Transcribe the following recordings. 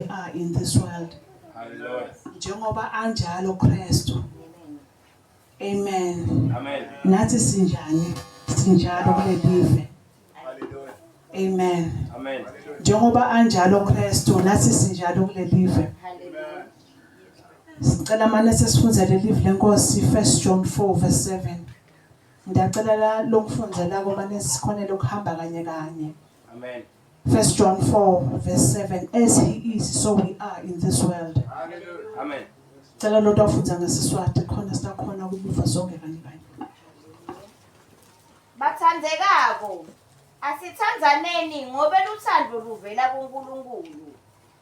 are in this world. Hallelujah. Njengoba anjalo Kristu. Amen. Amen. Nathi sinjani? Sinjalo kulelive. Hallelujah. Amen. Amen. Njengoba anjalo Kristu, nathi sinjalo kulelive. Hallelujah. Sicela manje sesifunze lelive lenkosi 1 John 4 verse 7. Ndiyacela la lokufundza lako mane sikhonele ukuhamba kanye kanye. Amen. First John 4 verse 7 as he is so we are in this world. Hallelujah. Amen. Cela lo tafundza ngesiswati khona sitakhona kubuva sonke kanye kanye. Bathandekako asithandzaneni ngobe lutsandvo luvela kuNkulunkulu.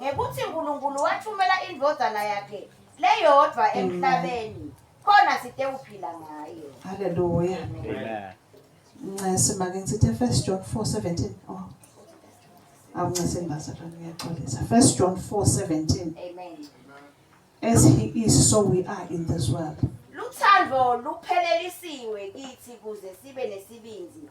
ngekuthi uNkulunkulu wathumela indvodzana yakhe leyodvwa emhlabeni khona sitewuphila ngayo haleluya ncese make ngisithi first john 4 17 oh awuncese mbazalwane ngiyaxolisa first john 4 17 amen as he is so we are in this world luthando luphelelisiwe kithi kuze sibe nesibindi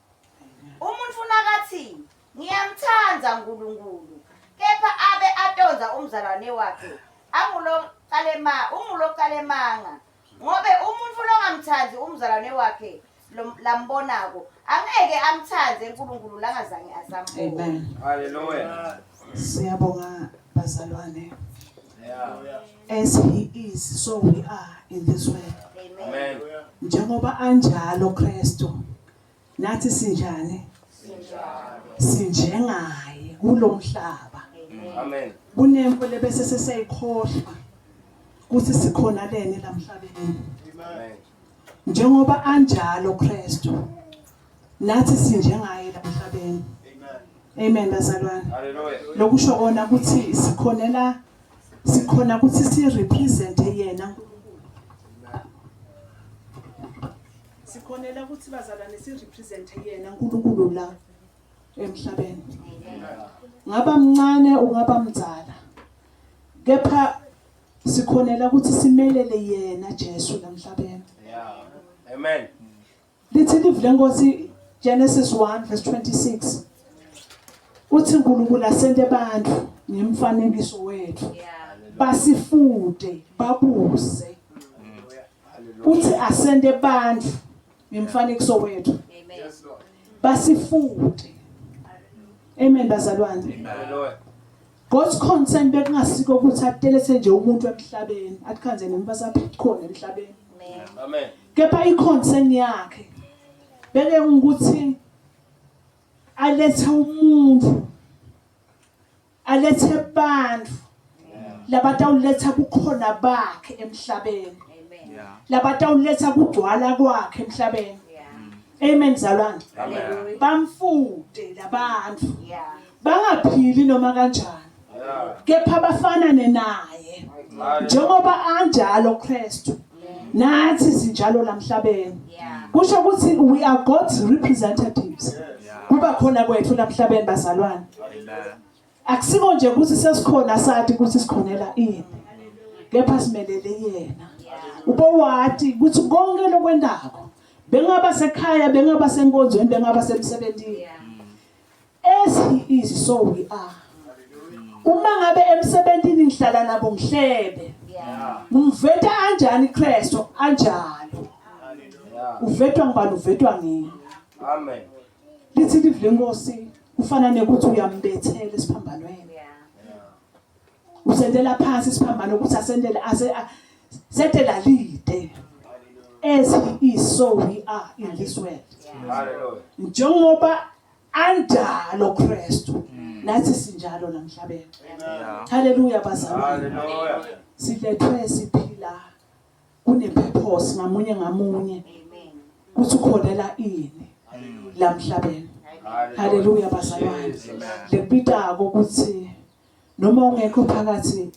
Umuntu funa kathi ngiyamthanda uNkulunkulu kepha abe atonza umzalwane wakhe anguloqalema unguloqalemanga ngobe umuntu funa ongamthandi umzalwane wakhe lambonako angeke amthande uNkulunkulu langazange azambone amen haleluya siyabonga bazalwane as he is so we are in this way amen njengoba anjalo Kristu Nathi sinjani? Sinjengaye kulo mhlaba. Amen. Kunempo lebese sesiyayikhohlwa ukuthi sikhona leni la mhlabeni. Amen. Njengoba anjalo Kristu nathi sinjengaye la mhlabeni. Amen. Amen bazalwane. Hallelujah. Lokusho kona ukuthi sikhonela sikhona ukuthi si represent yena uNkulunkulu Sikhonela ukuthi bazalwane si represent yena uNkulunkulu la emhlabeni. Ngaba mncane ungaba mdzala. Kepha sikhonela ukuthi simelele yena Jesu lamhlabeni. Yeah. Amen. Lithi live lenkosi Genesis 1 verse 26. Uthi uNkulunkulu asente abantu ngemfanekiso wethu. Basifude, babuse. uthi asende bandla ngemfanekiso wethu basifunde amen bazalwane God's concern bekungasiko ukuthi atelese nje umuntu emhlabeni athikhanze noma saphithkhona emhlabeni amen kepha iconcern yakhe beke ukuthi alethe umuntu alethe bantfu labatawuletsa bukhona bakhe emhlabeni labatawuletsa kugcwala kwakhe emhlabeni amen zalwane bamfute labantfu bangaphili noma kanjani kepha bafanane naye njengoba anjalo Kristu nathi sinjalo la mhlabeni kusho ukuthi we are God's representatives kuba khona kwethu la mhlabeni bazalwane akusiko nje ukuthi sesikhona sathi ukuthi sikhonela ini kepha simelele yena ubowati ukuthi konke lokwendako bengaba sekhaya bengaba senkonzweni bengaba semsebenzini As he is so we are. Uma ngabe emsebenzini ngihlala nabo ngihlebe. Ngimveta kanjani Kristo anjalo. Uvetwa ngibani uvetwa ngini. Amen. Lithi live lenkosi kufana nekuthi uyambethela esiphambanweni. Usendela phansi isiphambano ukuthi asendele ase sedela lide. As he is so we are in this world. Hallelujah. Njengoba anjalo Kristu mm. nathi sinjalo namhlabeni haleluya bazalwane silethwe siphila kunepurpose ngamunye ngamunye ukuthi ukholela ini lamhlabeni haleluya bazalwane lekubitako ukuthi noma ungekho phakathi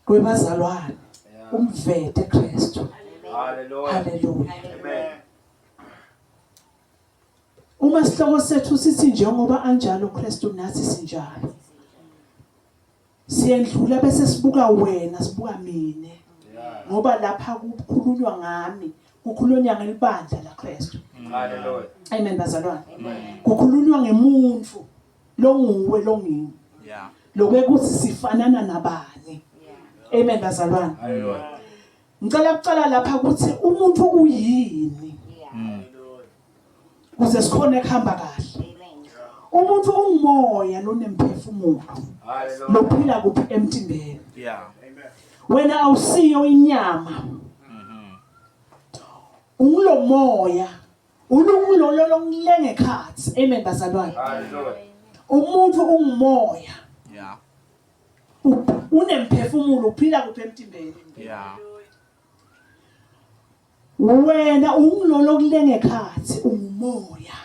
kwebazalwane umvete Kristu haleluya haleluya amen Uma sihloko sethu sithi njengoba anjalo uKristu nathi sinjalo. Siyendlula bese sibuka wena, sibuka mina. Ngoba lapha kukhulunywa ngami, kukhulunywa ngelibandla laKristu. Hallelujah. Amen bazalwane. Kukhulunywa ngemuntu longuwe longimi. Yeah. Lokuthi sifanana nabani. Amen bazalwane. Hallelujah. Ngicela kucela lapha ukuthi umuntu uyini. Kuze sikhone kuhamba kahle. Umuntu ungumoya lonemphefumulo. Lophila kuphi emtimbeni. Yeah. Wena awusiyo inyama. Mhm. Ungulomoya. Unkulunkulu lolo ngilenge khathi. Amen bazalwane. Umuntu ungumoya. Yeah. unemphefumulo uphila kuphi emtimbeni yeah wena ungilona okulenge khathi ungumoya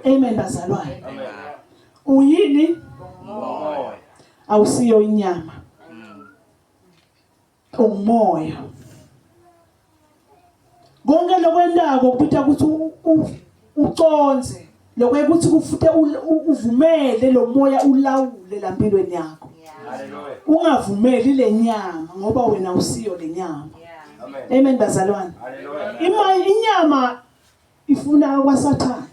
amen bazalwane uyini umoya awusiyo inyama umoya konke lokwentako kubita ukuthi uconze lokwe ukuthi kufute uvumele lo moya ulawule la mpilweni yakho ungavumeli le nyama ngoba wena usiyo le nyama amen bazalwane inyama ifuna kwasathane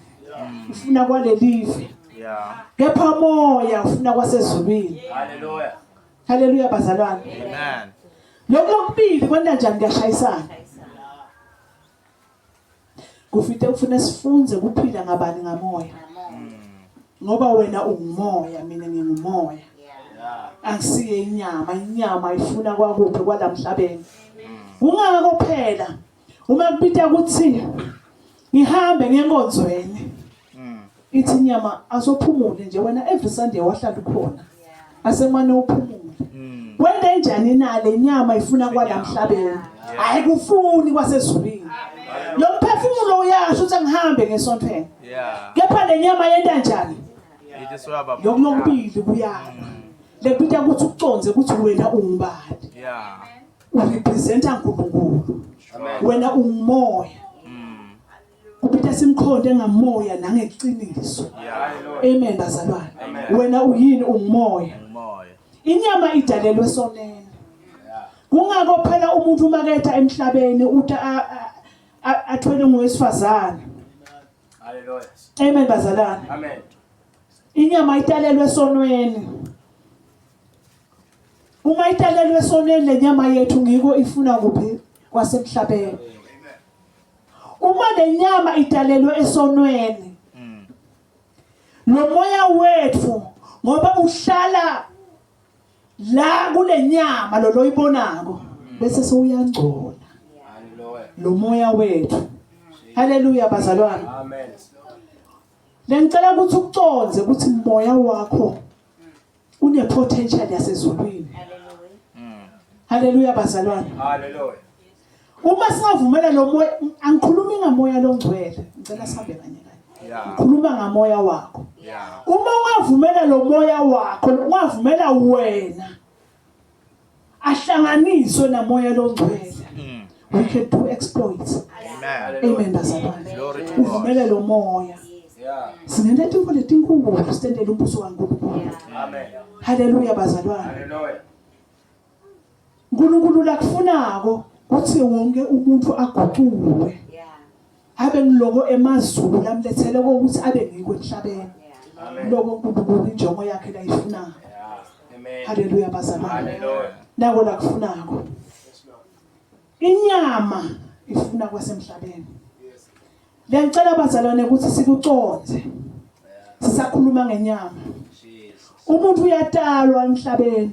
ufuna kwalelive kepha moya ufuna kwasezulwini haleluya haleluya bazalwane amen lokho lokubili kwenta njani kuyashayisana kufite ufuna sifunze kuphila ngabani ngamoya ngoba wena ungumoya mina ngingumoya angisiye inyama inyama ifuna kwakuphi kwalamhlabeni kungako phela Uma kubita ukuthi ngihambe ngenkonzweni. Mm. Ithi nyama asophumule nje wena every Sunday wahlala ukhona. Asemane uphumule. Mm. Wende njani na le nyama ifuna kwalamhlabeni? Hayi kufuni kwasezulwini. Lo mphefumulo uyasho ukuthi angihambe ngesontweni. Kepha le nyama yenta njani? Yokubili kuyana. Mm. Lekubita ukuthi ukuconze ukuthi wena ungubani. Yeah. urepresenta uNkulunkulu wena ungumoya kuphetha simkhonde ngamoya nangeqiniso amen bazalwane wena uyini ungumoya inyama idalelwe sonene kungako phela umuntu uma ketha emhlabeni uthi athwele ngowesifazane haleluya amen bazalwane amen inyama italelwe sonweni Uma italelwe esoneni le nyama yethu ngiko ifuna kuphi kwasemhlabeni. Uma le nyama italelwe esonweni lo moya wethu ngoba uhlala la kule nyama lo loyibonako bese sewuyangcola lo moya wethu haleluya bazalwane amen lengicela ukuthi uconze ukuthi moya wakho Unepotential yasezulwini. Haleluya bazalwane. Haleluya. Uma singavumela lo moya angikhulumi ngamoya longcwele, ngicela sihambe kanye kanye. Ngikhuluma ngamoya wakho. Uma ungavumela lo moya wakho, ungavumela wena ahlanganiswe namoya longcwele mm. we can do exploits amen bazalwane uvumele lo moya sinento etinko letinkulu sitendele umbuso kaNkulunkulu amen haleluya bazalwane haleluya uNkulunkulu lakufunako kuthi wonke umuntu aguquke Abe ngiloko emazulu lamlethele ukuthi abe ngikho emhlabeni. Lokho uNkulunkulu injongo yakhe layifunayo. Haleluya bazalwane. Nako la kufunako. Inyama ifuna kwasemhlabeni. Ngiyacela bazalwane ukuthi sikuconze. Sisakhuluma ngenyama. Umuntu uyatalwa emhlabeni.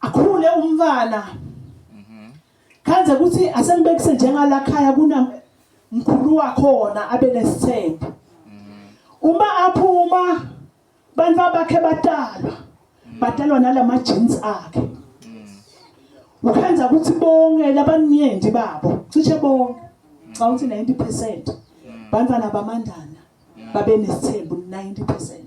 akhule umntwana kanze ukuthi asenibekise njengala khaya kuna mkhulu wakhona abe nesithembu uma aphuma bantu abakhe batalwa batalwa nalama jeans akhe ukhenza ukuthi bonke labanyendi babo cishe bonke xa uthi 90% bantwana bamandana babe nesithembu 90%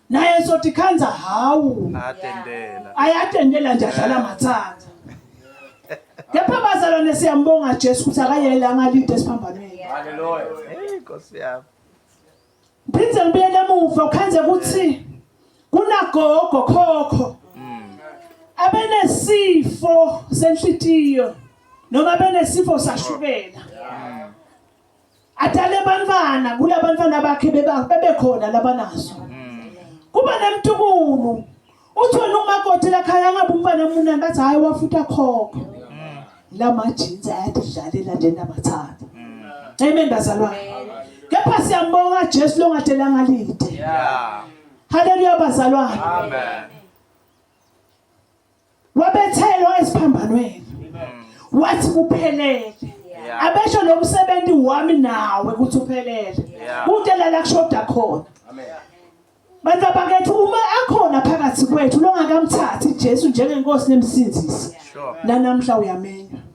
naye sothi khanza hawu atendela ayatendela nje adlala mathanda kepha abazalwane siyambonga Jesu ukuthi akayele angalinde esiphambanweni haleluya hey nkosi yami phinde ngibuyele emuva khanze ukuthi kunagogo khokho hmm. abenesifo senhlitiyo noma benesifo sashukela hmm. adale abantwana kula bantwana bakhe bebekhona labanazo kuba nemtukulu uthole umakoti lakhaya angabe umfana munani bathi hhayi wafutha khokho la majinsi ayadidlalela nje nabathatha amen bazalwane kepha siyambonga jesu longadelanga lide haleluya bazalwane wabethelwa esiphambanweni wathi kuphelele abesho lo msebenzi wami nawe ukuthi uphelele konke la la kushoda khona bantu abakethu uma akhona phakathi kwethu longakamthathi Jesu njengenkosi nemsindisi nanamhla uyamenywa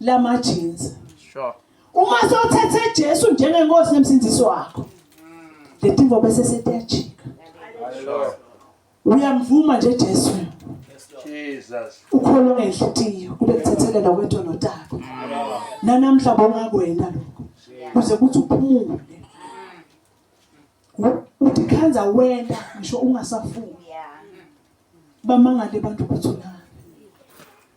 lama jeans sure uma sothethe Jesu njengenkosi nemsindisi wakho letimvo bese setiyajika sure uyamvuma nje Jesu Jesus ukholo ngenhlitiyo kube kuthethelela kwethu notaka nanamhla bonga kwena lokho kuze kuthi uphumule uthi khanza wena ngisho ungasafuni bamangale abantu ukuthi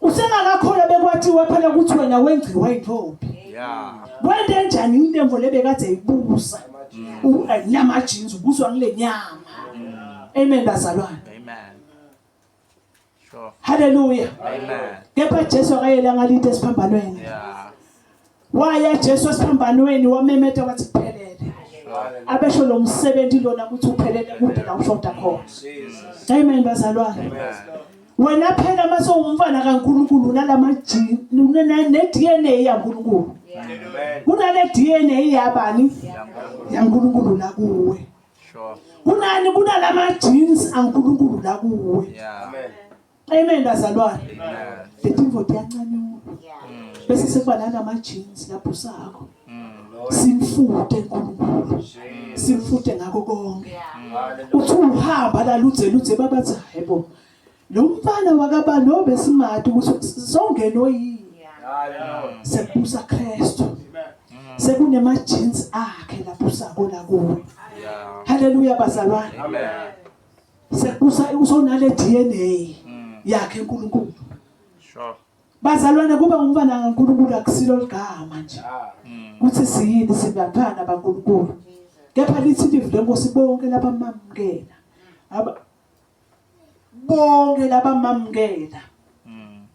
Usengakakholwa bekwathiwa phela ukuthi wena wengciwa intombi. Yeah. Kwente njani intembo lebekade ibusa? Unyama eh, jeans ubuswa kule nyama. Amen bazalwane. Amen. Sure. Hallelujah. Amen. Kepha Jesu akayelanga lite esiphambanweni. Yeah. waya Jesu esiphambanweni wamemeta wathi kuphelele abesho lo msebenzi lona ukuthi uphelele kude la ushoda khona amen bazalwane wena phela uma sewumfana kaNkuluNkulu nalamajini ne-DNA yaNkuluNkulu kunale DNA yabani yaNkuluNkulu la kuwe kunani kunalama jeans aNkuluNkulu la kuwe amen Amen bazalwane. The people diyancanyuka. Bese sekuba nalama jeans lapho sakho. Simfute uNkulunkulu. Simfute ngako konke. Uthi uhamba la ludze ludze babathi hayibo. Lo mfana wakaba no besimati ukuthi songena oyini. Sebusa Kristu. Sekunema jeans akhe lapho sakho la kuwe. Hallelujah bazalwane. Amen. usunale DNA mm. yakhe uNkulunkulu sure bazalwane kuba umfana kaNkulunkulu akusilo ligama nje ah. mm. kuthi siyini singaphana baNkulunkulu kepha lithi live lenkosi bonke labamamukela aba bonke labamamukela mm.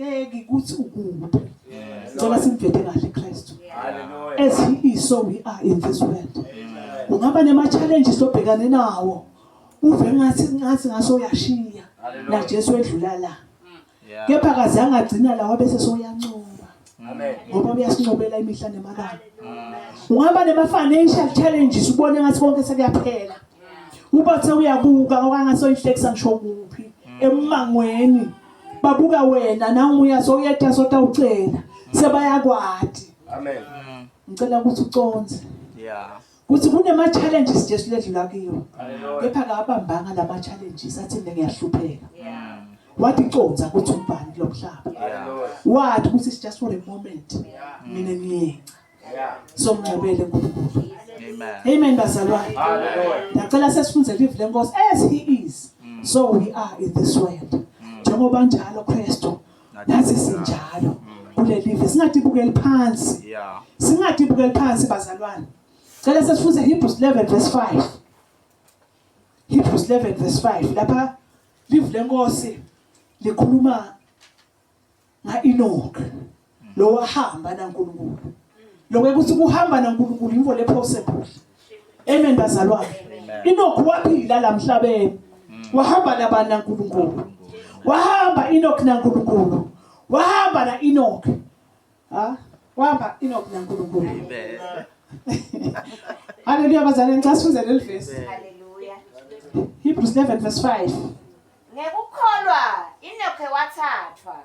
Ngeke ukuthi ukude. Ngicela simvete kahle Christ. As he is so we are in this world. Ungaba nema challenges obhekane nawo. Uve ngathi ngathi ngaso uyashiya. Na Jesu edlula la. Mm. Kepha kazange agcina la wabe sesoyancoba. Amen. Ngoba uyasincobela imihla nemalanga. Ungaba nema financial challenges ubone ngathi konke sekuyaphela. Ubathe uyabuka okangasoyihlekisa ngisho kuphi mm. emangweni. babuka wena nawumuya sowuyetha sotawucela sebayakwati amen ngicela ukuthi uconze yeah kuthi kunema-challenges nje siledlula kiwo kepha kabambanga la ma-challenges athi mina ngiyahlupheka wathi conza ukuthi umbani kulo mhlaba wathi ukuthi it's just for a moment mina ngiyenca somncobele uNkulunkulu amen bazalwane ndacela sesifunze live lenkosi as he is mm. so we are in this world mm. njengoba njalo Kristu nathi sinjalo mm. kule live singadibukeli phansi singadibukeli phansi bazalwane cela sesifunze Hebrews 11 verse 5 Hebrews 11 verse 5 lapha live lenkosi likhuluma ngaEnoch lo wahamba naNkulunkulu lokho ukuthi kuhamba naNkulunkulu yinto le possible amen bazalwane Enoch waphila la mhlabeni mm. wahamba nabani naNkulunkulu wahamba Enoch naNkulunkulu wahamba na Enoch ha wahamba Enoch naNkulunkulu amen Haleluya bazalwane ngicasuze leli verse Haleluya Hebrews 11 verse 5 Ngekukholwa Enoke wathathwa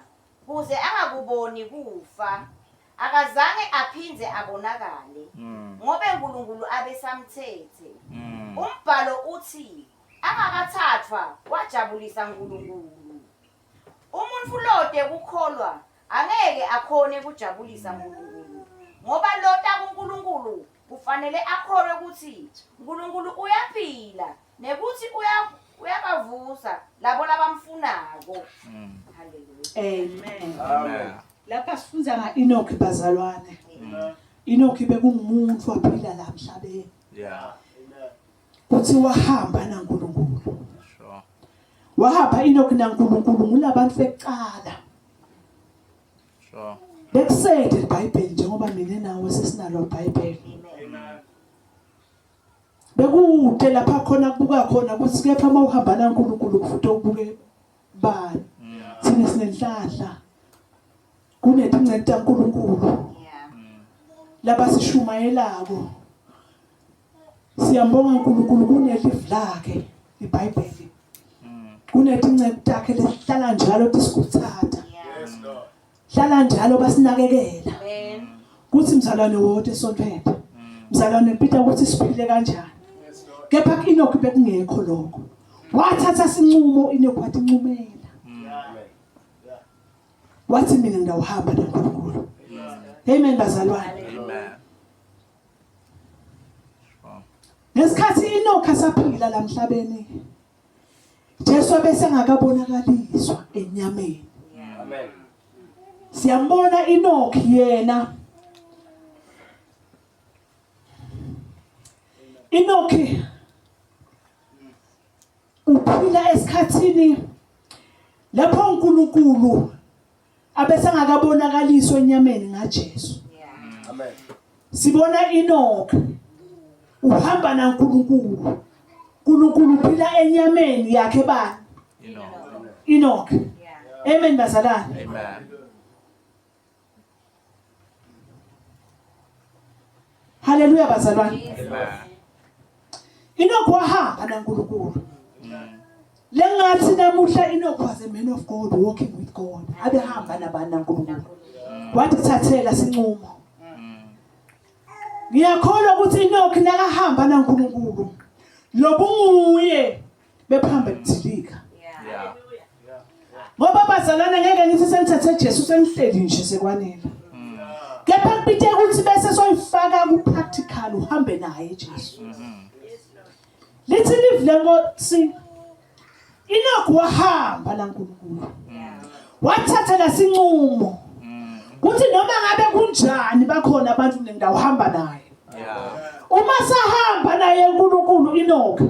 kuze angakuboni kufa. Akazange aphinde abonakale mm. ngoba eNkulunkulu abesamthethe. Mm. Umbhalo uthi angakathathwa wajabulisa uNkulunkulu. Umuntu lode kukholwa angeke akhone kujabulisa uNkulunkulu ngoba lota kuNkulunkulu Kufanele akholwe ukuthi uNkulunkulu uyaphila nekuthi uya uyabavusa labo labamfunako. Mm. Amen. Amen. Lapha sifunda nga Enoch bazalwane. Amen. Enoch bekungumuntu waphila la emhlabeni. Yeah. Kuthi wahamba naNkulunkulu. Sure. Wahamba Enoch naNkulunkulu ngulabantu bekuqala. Sure. Bekusayed iBhayibheli njengoba mina nawe sesinalo iBhayibheli. Bekude lapha khona kubuka khona ukuthi kepha uma uhamba naNkulunkulu kufuthi ubuke bani. Thina sinenhlahla. Kunedingcente kaNkulunkulu. Laba sishumayelako. Siyambonga uNkulunkulu kuneli vlake iBhayibheli. Kunethi inceku takhe lesihlala njalo tisikuthatha. Yes Lord. Hlala njalo basinakekela. Amen. Kuthi mzalwane wonke esontweni. Mzalwane Peter ukuthi siphile kanjani. Kepha kuInoki bekungekho lokho. Wathatha sinqumo iNoki wathi ncumela. Wathi mina ngiyawuhamba noNkulunkulu. Amen bazalwane. Amen. ngesikhathi inokha saphila la mhlabeni Jesu bese ngakabonakaliswa enyameni amen siyambona inokhi yena inokhi uphila esikhathini lapho uNkulunkulu abesangakabonakaliswa enyameni ngaJesu amen sibona Enoch uhamba naNkulunkulu uNkulunkulu uphila enyameni yakhe bani Enoch amen bazalwane amen Haleluya bazalwane. Inokho wahamba naNkulunkulu. Lengathi namuhla Inokho was a man of God walking with God. Abehamba nabani naNkulunkulu. Wathi thathela sinqumo. Ngiyakholwa ukuthi Inokho nakahamba naNkulunkulu. Lobunguye bephambe kudilika ngoba bazalwane ngeke ngithi senithathe Jesu senihleli nje sekwanele mm. kepha kubite ukuthi bese soyifaka ku practical uhambe naye Jesu mm-hmm. lithi live lenkosi inoku wahamba la nkulunkulu wathatha lasincumo mm. kuthi noma ngabe kunjani bakhona abantu kule ndawo hamba naye uma sahamba naye unkulunkulu inoku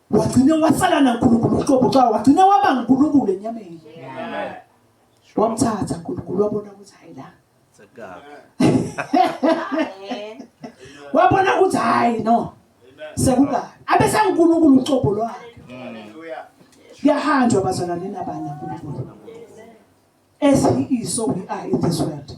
wagcine wasala nankulunkulu uqobo xa wagcine waba ngunkulunkulu enyameni wamthatha nkulunkulu wabona ukuthi hayi la wabona ukuthi hayi no sekukabi abesangunkulunkulu uqobo lwakhe kuyahanjwa bazalwane nabani nankulunkulu as he is so we are in this world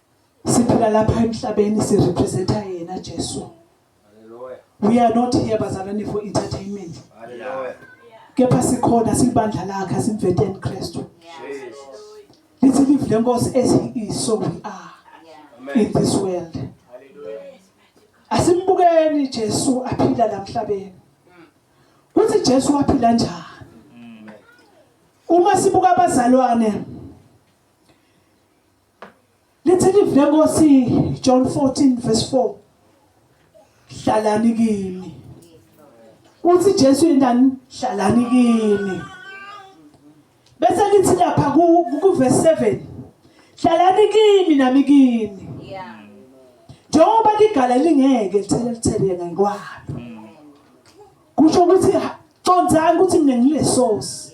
siphila lapha emhlabeni si representa yena Jesu we are not here bazalwane for entertainment kepha sikhona sibandla lakhe simveteni Kristu lithi live lenkosi as he is so we are in this world asimbukeni Jesu aphila la mhlabeni kuthi Jesu waphila njani uma sibuka abazalwane Lithi livule Nkosi John 14 verse 4. Hlalani kimi. Uthi Jesu yendani hlalani kimi. Bese lithi lapha ku ku verse 7. Hlalani kimi nami kimi. Yeah. Njengoba ligala lingeke lithele lithele ngekwalo. Kusho ukuthi condzani ukuthi mina ngilesosi.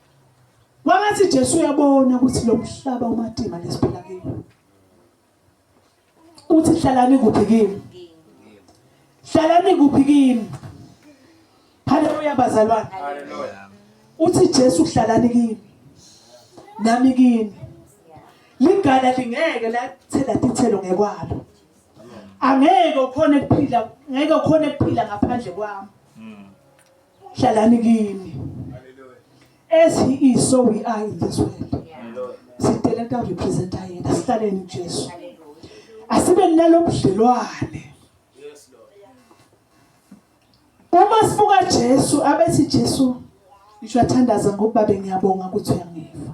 Makathi Jesu uyabona ukuthi lo mhlaba umatima lesiphila kiwo. Uthi hlalani kuphi kimi? Hlalani kuphi kimi? Haleluya bazalwane. Haleluya. Uthi Jesu hlalani kimi. Nami kimi. Ligala lingeke lathela tithelo ngekwalo. Angeke ukhona ukuphila, ngeke ukhona ukuphila ngaphandle kwami. hlalani kimi as he is so we are in this world sidele ka represent yena sihlaleni uJesu asibe nalobudlelwane uma sibuka Jesu abethi Jesu ngisho athandaza ngokuba bengiyabonga ukuthi uyangiva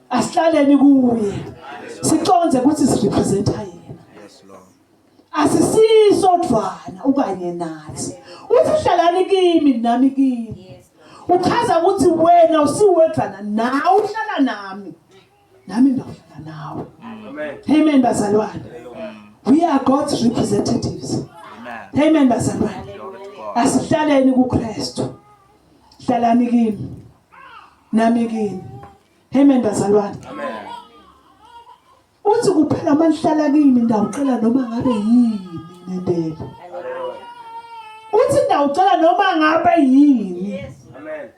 asihlaleni kuye siconze ukuthi sirepresenta yena asisisodvwana ukanye nathi uthi hlalani kimi nami kimi uchaza ukuthi wena usiwedvwana nawe uhlala nami nami ndawuhlala nawe amen bazalwane we are god's representatives amen bazalwane asihlaleni kukristu hlalani kimi nami kimi Amen bazalwane. Amen. Uthi kuphela manhlala kimi ndawucela noma ngabe yini nendela. Uthi ndawucela noma ngabe yini. Amen.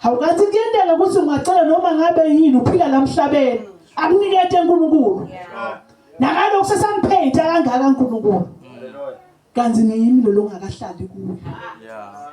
Awukathi kuyendela ukuthi ungacela noma ngabe yini uphila lamhlabeni. Akunikete uNkulunkulu. Nakalo kusesangiphethe kangaka uNkulunkulu. Kanti ngiyimi lo longakahlali kuyo. Yeah.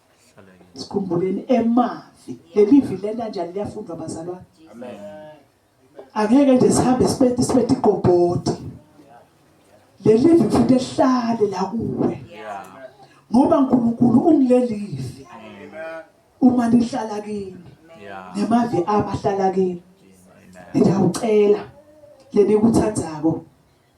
sikhumbuleni emavi leli vi lena njani liyafundwa bazalwane angeke nje sihambe siphethe siphethe igobhodi leli vi futhi ehlale la kuwe ngoba uNkulunkulu ungilelivi uma nihlala kimi nemavi abahlala kimi ngiyawucela lenikuthathako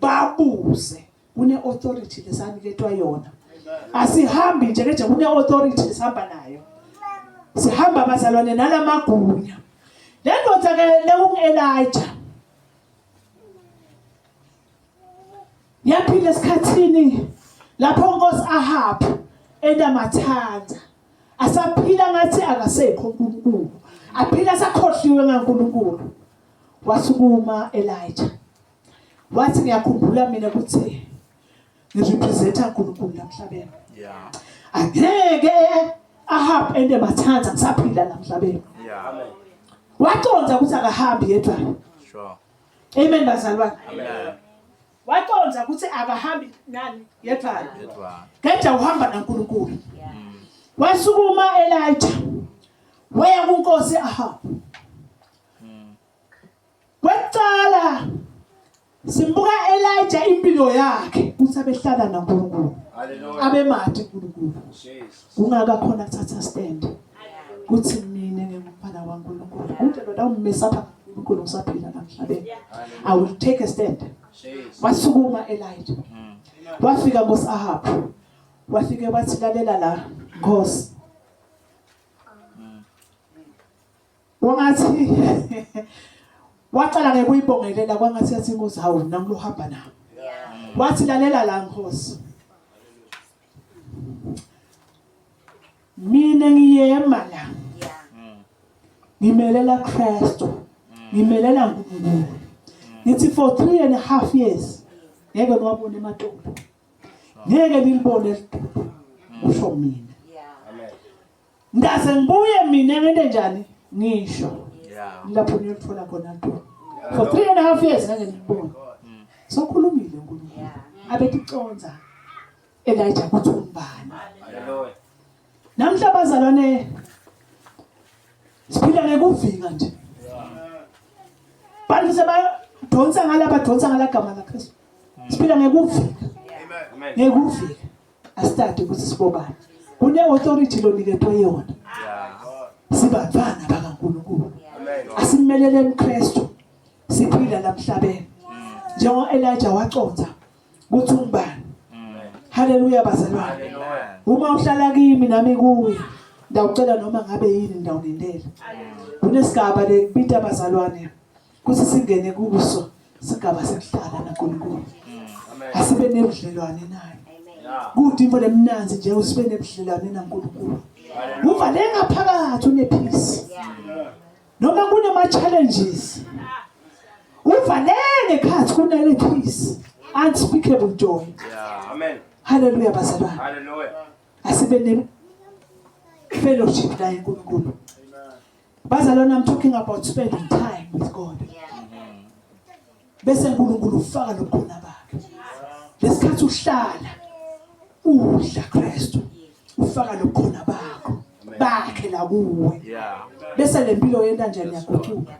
babuze kune authority lesaniketwa yona asihambi nje keje kune authority lesihamba nayo sihamba abazalwane nalamagunya le ndoda ke lekungu-elija yaphila esikhathini lapho unkosi ahabi enamathanda asaphila ngathi akasekho unkulunkulu aphila sakhohliwe ngankulunkulu wasukuma elija Wathi ngiyakhumbula mina ukuthi ngirepresenta uNkulunkulu la emhlabeni. Yeah. Angeke ahambe ende mathanda ngisaphila la emhlabeni. Yeah. Amen. Waconza ukuthi akahambi yedwa. Sure. Amen bazalwane. Amen. Waconza ukuthi akahambi nani yedwa. Yedwa. Kade uhamba naNkulunkulu. Yeah. Mm. Wasukuma Elijah. Waya kuNkosi Ahab. Kwekucala simbuka Elijah impilo yakhe ukuthi abehlala naNkulunkulu. Hallelujah. Abemade uNkulunkulu. Jesus. Kungaka khona thatha stand. Kuthi mina ngingumfana waNkulunkulu. Kude lona ummisa pha uNkulunkulu usaphila namhlabeni. I will take a stand. Jesus. Wasukuma Elijah. Hmm. Wafika ngosi Ahab. Wafike wathi lalela la Nkosi. Wangathi wacala ngekuyibongelela kwangathi yathi inkosi hawu nami lohamba nawo. Wathi lalela la nkosi. Mina ngiyema la. Ngimelela Kristu. Ngimelela uNkulunkulu. Ngithi for 3 and a half years ngeke niwabone emadolo. Ngeke nilibone elidolo. Usho mina. Ngase ngibuye mina ngente njani? Ngisho. Yeah. Lapho ngiyothola khona nto. For three and a half years ngeke ngibone. Mm. Sokhulumile uNkulunkulu. Abeticonza. Elijah kuthi umbani. Hallelujah. Namhla bazalwane siphila ngekuvinga nje. Bantu sebayadonsa ngala badonsa ngala gama laKristu. Mm. Siphila ngekuvinga. Amen. Ngekuvika. asithathe ukuthi sibobani kune authority loniketwe yona sibafana bakaNkulunkulu asimelele uKristu siphila lamhlabeni njengoba Elijah waconza ukuthi ungubani haleluya bazalwane uma uhlala kimi nami kuwe ndawucela noma ngabe yini ndawulindela kunesigaba lekubita bazalwane kuthi singene kuso sigaba sekuhlala naNkulunkulu asibe nebudlelwane naye kude into lemnanzi nje usibe nebudlelwane naNkulunkulu uvale ngaphakathi unephisi noma kunama challenges uvaleke khathi kunale peace unspeakable joy yeah amen haleluya bazalwane haleluya asibe ne fellowship naye uNkulunkulu Bazalwane I'm talking about spending time with God. Bese uNkulunkulu ufaka lokhona bakhe. Lesikhathi uhlala udla Kristu ufaka lokhona bakho bakhe la kuwe. Bese lempilo yenta nje niyaguquka.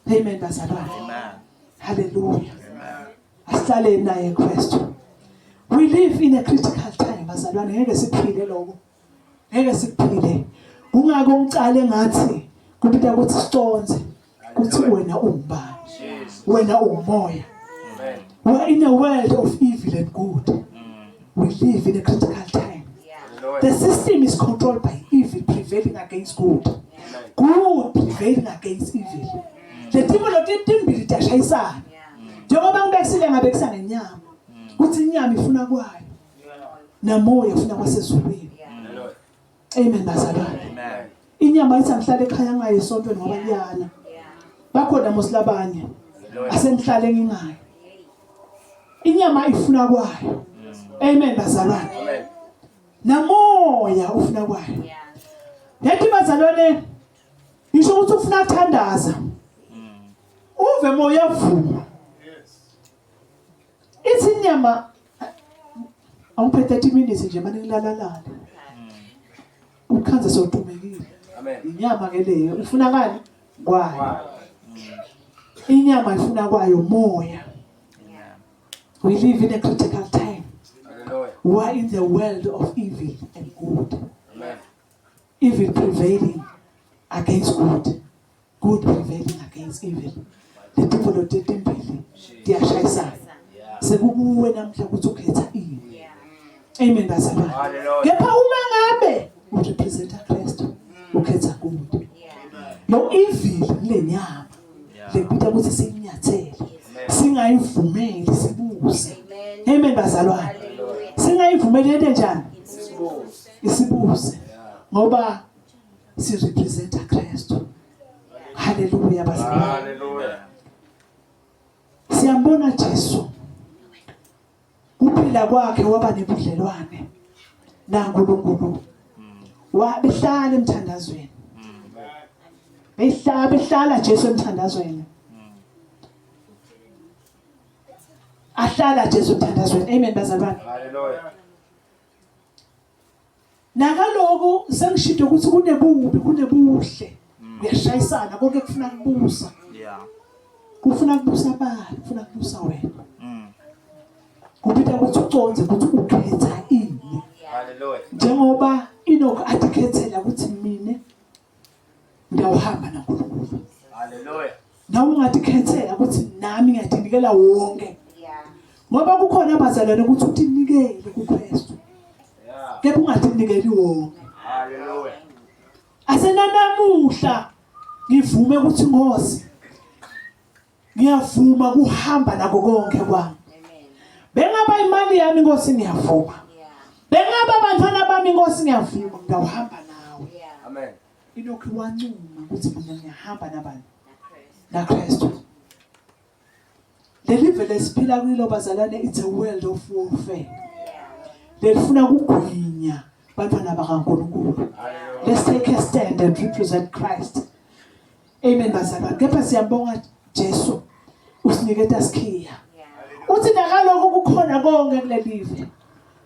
Amen bazalwane. Amen. Hallelujah. Amen. Asihlale naye Kristu. We live in a critical time bazalwane ngeke siphile lokho. ngeke sikuphile kungako ngicale ngathi kubita ukuthi siconze ukuthi wena umbani wena umoya we are in a world of evil and good mm. we live in a critical time the system is controlled by evil prevailing against good good prevailing against evil mm. the people of the timbili tashayisana njengoba ngibekisile ngabe kusangenyama mm. kuthi inyama ifuna kwayo namoya ufuna kwasezulwini amen bazalwane inyama ithi angihlale ekhaya ngayo esontweni ngoba kuyana bakhona mosilabanye asengihlale ngingayo inyama ifuna kwayo amen bazalwane namoya ufuna kwayo yathi bazalwane ngisho ukuthi ufuna kuthandaza uve moya vuma Ithi inyama awuphe 30 minutes nje manje ngilalalala. Ukhanze sotumekile. Amen. Inyama ke leyo ifuna kani? Kwayo. Inyama ifuna kwayo moya. We live in a critical time. Hallelujah. We are in the world of evil and good. Amen. Evil prevailing against good. good prevailing against evil letimbolo tetimbili tiyashayisana sekukuwe namhla ukuthi ukhetha ini amen bazalwane kepha uma ngabe urepresenta kristu ukhetha good no evil lenyama lekuta ukuthi sikunyathele singayivumeli sibuze amen bazalwane singayivumeli into enjani isibuze ngoba si representa Kristu. Haleluya bazalwane. Haleluya. Siyambona Jesu. Kuphila kwakhe waba nebudlelwane naNkulunkulu. Wabehlala emthandazweni. Behlala behlala Jesu emthandazweni. Ahlala Jesu emthandazweni. Amen bazalwane. Haleluya. Nakaloku sengishide ukuthi kunebubi kunebuhle. Mm. Uyashayisana konke kufuna kubusa. Yeah. Kufuna kubusa bani? Kufuna kubusa wena. Mm. Kupita ukuthi uconze ukuthi ukhetha ini. Hallelujah. Njengoba Enoch athi khethela ukuthi mina ngiyawuhamba naNkulunkulu haleluya nawe ungazikhethela ukuthi nami ngiyazinikela wonke ngoba kukhona abazalwane ukuthi utinikele kuKristu kepha ungazinikeli wonke haleluya asenanamuhla ngivume ukuthi ngosi ngiyavuma kuhamba nako konke kwami bengaba imali yami inkosi ngiyavuma bengaba abantwana bami inkosi ngiyavuma ngiyawuhamba nawe amen ilokhu wancuma ukuthi mina ngiyahamba nabani nakristu leli vele siphila kuyilo bazalwane it's a world of warfare lelifuna ukugwinya bantwana bakankulunkulu let's take a stand and represent christ Amen bazalwane. Kepha siyabonga Jesu usiniketa sikhiya. Uthi nakaloko kukhona konke kulelive.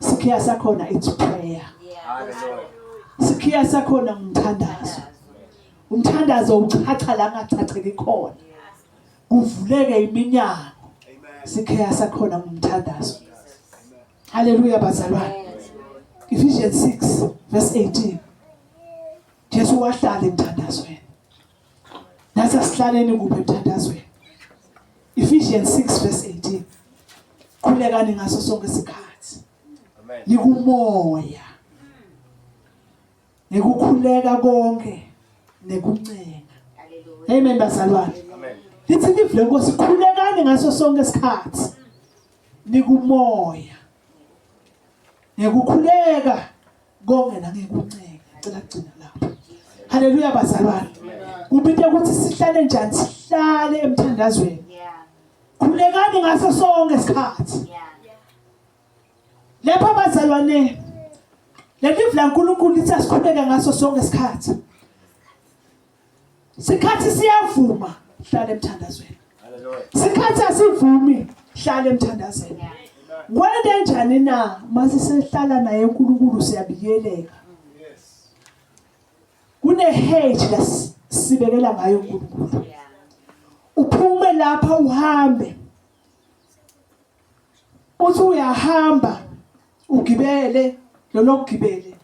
Sikhiya sakhona it's prayer. Sikhiya sakhona ngumthandazo. Umthandazo uchacha la ngachatheki khona. Kuvuleke iminyango. Sikhiya sakhona ngumthandazo. Hallelujah bazalwane. Ephesians 6 verse 18. Jesu wahlala emthandazweni. Nasa sihlaleni kuphi emthandazweni? Ephesians 6 verse 18. Khulekani ngaso sonke isikhathi. Amen. Nikumoya. Nikukhuleka konke nekuncenga. Amen bazalwane. Amen. Lithi live lenkosi khulekani ngaso sonke isikhathi. Nikumoya. Nikukhuleka Konke nami ngikuncenge. Ngicela kugcina lapho. Haleluya bazalwane. Kubithe ukuthi sihlale njani sihlale emthandazweni. Khulekani ngaso sonke isikhathi. Lapha bazalwane leli vla uNkulunkulu lithi asikhuleke ngaso sonke isikhathi. sikhathi siyavuma hlala emthandazweni sikhathi asivumi hlala emthandazweni kwende njani na mase sehlala naye uNkulunkulu siyabikeleka kune hate la sibekela ngayo uNkulunkulu uphume lapha uhambe uthi uyahamba ugibele lolokugibele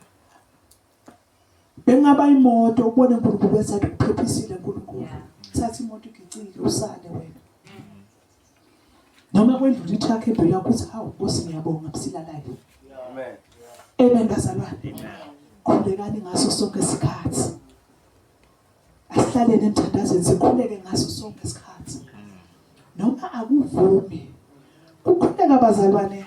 Bengaba imoto ubone uNkulunkulu wenza ukuphephisiile uNkulunkulu. Thatha imoto igicile usale wena. Noma kwendlula itruck ebhelu yakho uthi hawu Nkosi ngiyabonga busilalayo. Amen. Amen bazalwane. Amen. Khulekani ngaso sonke isikhathi. Asihlaleni emthandazweni sikhuleke ngaso sonke isikhathi. Noma akuvumi. Kukhuleka bazalwane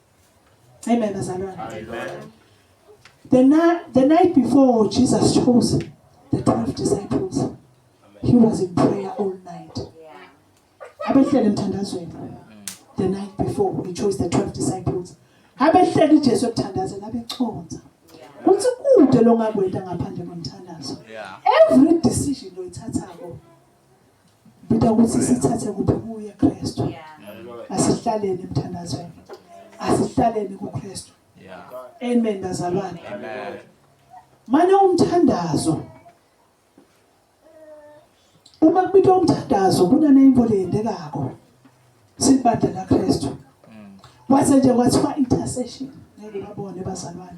Amen, bazalwane. Amen. The, na- the night before Jesus chose the 12 disciples, he was in prayer all night. Abehlele emthandazweni. The night before, he chose the 12 disciples. Abehlele uJesu ekuthandazela abeconza. Kuthi kude longakwenda ngaphandle komthandazo. Yeah. Every decision oyithathako Ngida ukuthi sithathe kuphi kuye Kristu. Asihlaleni emthandazweni. Asihlaleni kuKristu. Amen bazalwane. Amen. Mane umthandazo. Uma kubitwa umthandazo kunaneyimbo leyendekako. Sibandla laKristu. Mm. Kwase nje kwathiwa intercession. Ngeke babone bazalwane.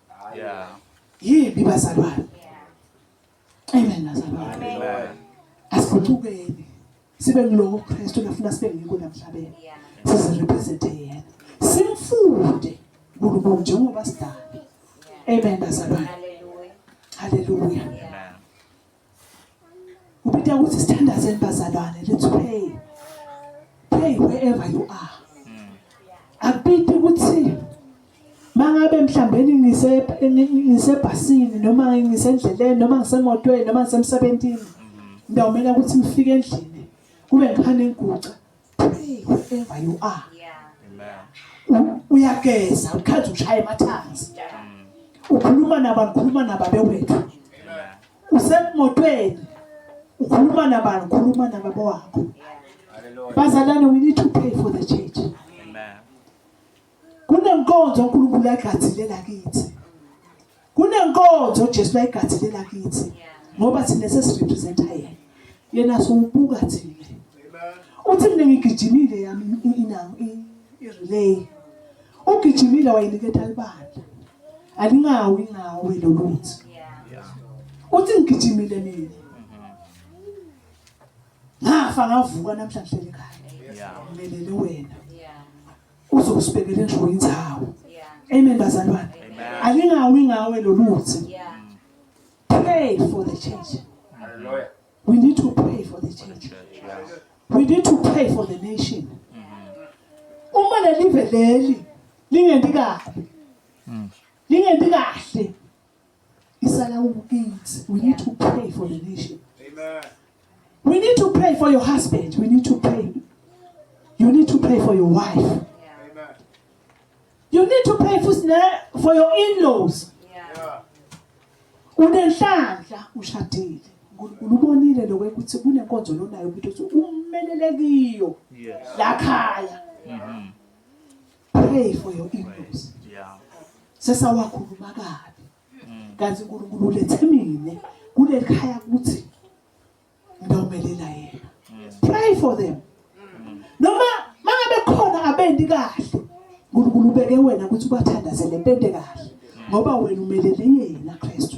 Yeah. Yimbi bazalwane. Amen bazalwane. Amen. Asiphucukeni. Sibe ngiloko Kristu nafuna sibe ngikho namhlabeni. Size represent yena. Simfunde uNkulunkulu njengoba sidala. Amen bazalwane. Hallelujah. Hallelujah. Ubida ukuthi sithandazeni bazalwane let's pray. Pray wherever you are. Akubidi ukuthi mangabe mhlambe ngise ngisebhasini noma ngisendleleni noma ngisemotweni noma ngisemsebenzini ngiyawumela ukuthi ngifike endlini kube ngikhane ngiguca pray wherever you are uyageza ukhathi ushaya emathanzi ukhuluma nabani ukhuluma nababe wethu usemotweni ukhuluma nabani ukhuluma nababa wakho bazalane we need to pray for the church kunenkonzo uNkulunkulu ayigadilela kithi kunenkonzo uJesu ayigadilela kithi ngoba thina sesirepresenta yena yena siwubuka thina uthi mina ngigijimile yami inango irelay ugijimile wayiniketa libandla alingawi ngawe loluthi uthi ngigijimile mina ngafa ngavuka namhlanje ekhaya ngimelele wena uzosibekele nje indawo amen bazalwane alingawi ngawe loluthi pray for the church hallelujah we need to pray for the church we need to pray for the nation uma lelive leli lingendi kabi lingendi kahle isalawula u-aids we need to pray for the nation Amen. we need to pray for your husband we need to pray you need to pray for your wife Amen. you need to pray for, for your in-laws Yeah. unenhlanhla ushadile unkulunkulu ubonile lokwe ukuthi kunenkonzo lonayo ukuthi umelele kiyo Yes. lakhaya Mhm. pray for your ignorance sesawakhuluma kabi mm. kanti uNkulunkulu ulethe mina kuleli khaya ukuthi ngawumelela yena mm. pray for them mm. noma mangabe khona abendi kahle uNkulunkulu ubeke wena ukuthi ubathandazele impende kahle ngoba wena umelele yena Kristu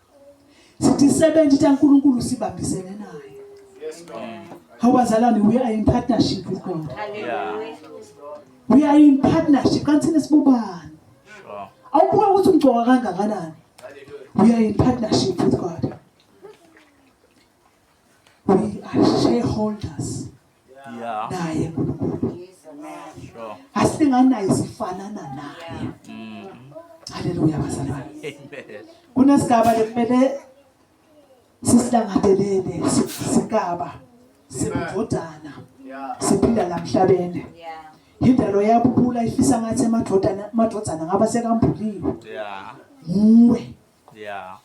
sithi isebenzi itha uNkulunkulu sibambisene naye yes god how bazalwane we are in partnership with god hallelujah we are in partnership kanti thina sibobani sure awubuka ukuthi umgcoka kangakanani we are in partnership with god we are shareholders Yeah. naye nkulunkulu Sure. asinganaye sifanana naye Mm. haleluya bazalwane Amen. kunesigaba lekumele sisilangadelele si- sigaba sebudodana siphila la mhlabeni Yeah. yindalo yabubula ifisa ngathi amadodana amadodana ngaba sekambuliwe Yeah. nguwe Yeah.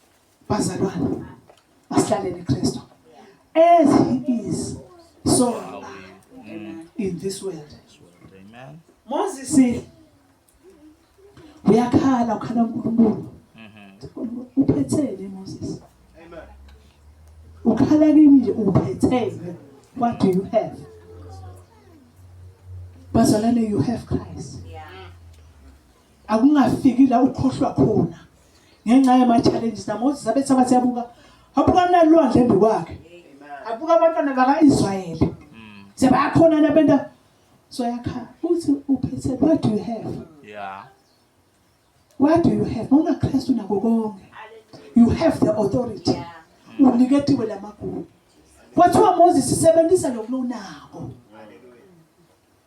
Bazalwane, masihlalele Kristu. As he is, so are we in this world. Amen. Moses uyakhala ukhala uNkulunkulu. Uphethele Moses. Amen. Ukhala kimi nje uphethele. What do you have? Bazalwane, you have Christ. akungafiki la ukhohlwa khona ngenxa yama-challenges namosis abethi abathi abuka abuka nalwandle embi kwakhe abuka abantwana baka-israyeli mm. sebayakhona nabenta so yakhala uthi uphethe what do you have yeah. what do you have mawunakristu nako konke you have the authority uniketiwe la magugu kwathiwa moses sebenzisa lokhu unako